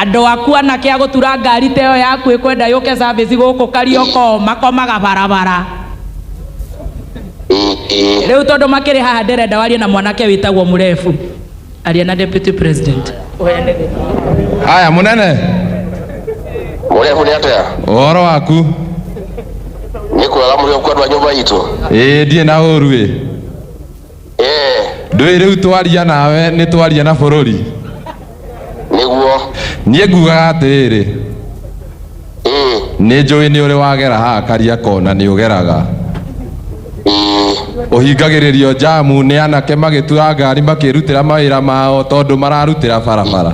Andũ aku anake agũtura ngari ta ĩyo yaku ĩkwenda yũke service gũkũ Kariokoo makomaga barabara. Rĩu tondũ makĩrĩ haha ndĩrenda warie na mwanake wĩtagwo mũrebu. Aria na Deputy President. Haya munene, Mũrehu nĩ atĩa? ũhoro waku? Nĩ kwega mũrĩ okuo andũ a nyũmba itũ. Ĩĩ ndirĩ na ũru ĩ. Eh, ndũĩ rĩu twaria nawe nĩ twaria na bũrũri nĩguo niĩ ngugaga atĩrĩrĩ Eh, nĩ njũĩ nĩ ũrĩ wagera haha karia kona nĩ ũgeraga eh, ũhingagĩrĩrio jamu nĩ anake magĩtua ngari makĩrutĩra mawĩra mao tondũ mararutĩra barabara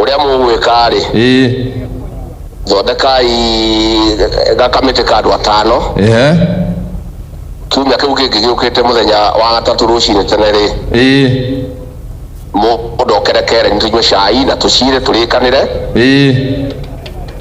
ũrĩa mũgwĩka-rĩ, Ĩĩ. thondekai gakamĩtĩ ka andũ atano, Ehe. kiumia kĩu kĩngĩ gĩũkĩte mũthenya wa gatatũ rũcinĩ tene-rĩ, Ĩĩ. mũndũ okere kereni tũnyue cai na tũcirĩ tũrĩkanĩre, Ĩĩ.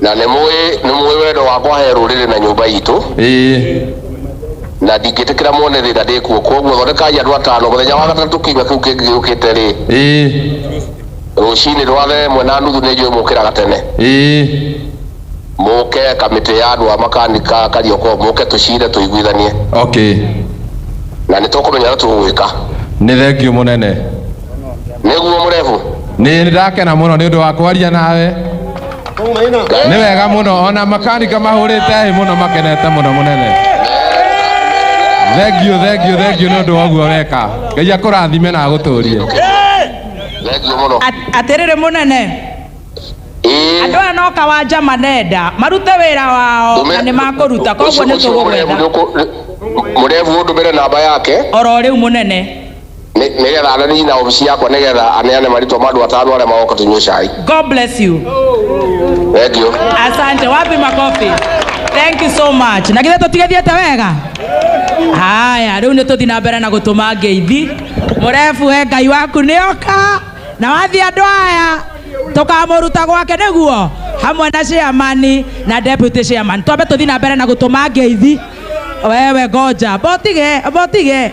Na nĩ mũĩ nĩ mũĩ wendo wakwa he rũrĩrĩ na nyũmba itũ ĩĩ na ndingĩtĩkĩra mone thĩna ndĩ kuo koguo thondekai andũ atano mũthenya wa gatatũ kiumia kĩu kĩngĩ gĩũkĩte rĩ ĩĩ rũcinĩ rwa thaa ĩmwe na nuthu nĩ njũĩ mũkĩraga tene ĩĩ mũke kamĩtĩ ya andũ a makanika karioko mũke tũcire tũiguithanie okay na nĩ tũkũmenya ũrĩa tũgwĩka nĩ thengiũ mũnene nĩguo mũrebu nĩ ndakena mũno nĩ ũndũ wa kwaria nawe nĩ wega mũno ona makanika mahũrĩte hĩ mũno makenete mũno mũnene thengiũ thengiũ thengiũ nĩ ũndũ wa ũguo weka ngai akũrathime na agũtũrie thengiũ mũno At- atĩrĩrĩ mũnene Ĩĩ. andũ aya no kawanja manenda marute wĩra wao na nĩ makũruta koguo nĩ tũgũgwetha mũrebu ũndũmĩre namba yake oro rĩu mũnene Nĩ nĩgetha anene na obici yakwa nĩgetha aneane marĩtwa ma andũ atano arĩa magoka tũnyue cai. God bless you. Thank you. Asante, wapi makofi? Thank you so much. Na githĩ tũtigathiĩte wega? Haya, rĩu nĩ tũthi na mbere na gũtũma ngeithi. Mũrefu we Ngai waku nĩoka na wathiĩ andũ aya tũkamũruta gwake nĩguo hamwe na chairman na deputy chairman. Twambe tũthi na mbere na gũtũma ngeithi. Wewe ngoja, botige, botige.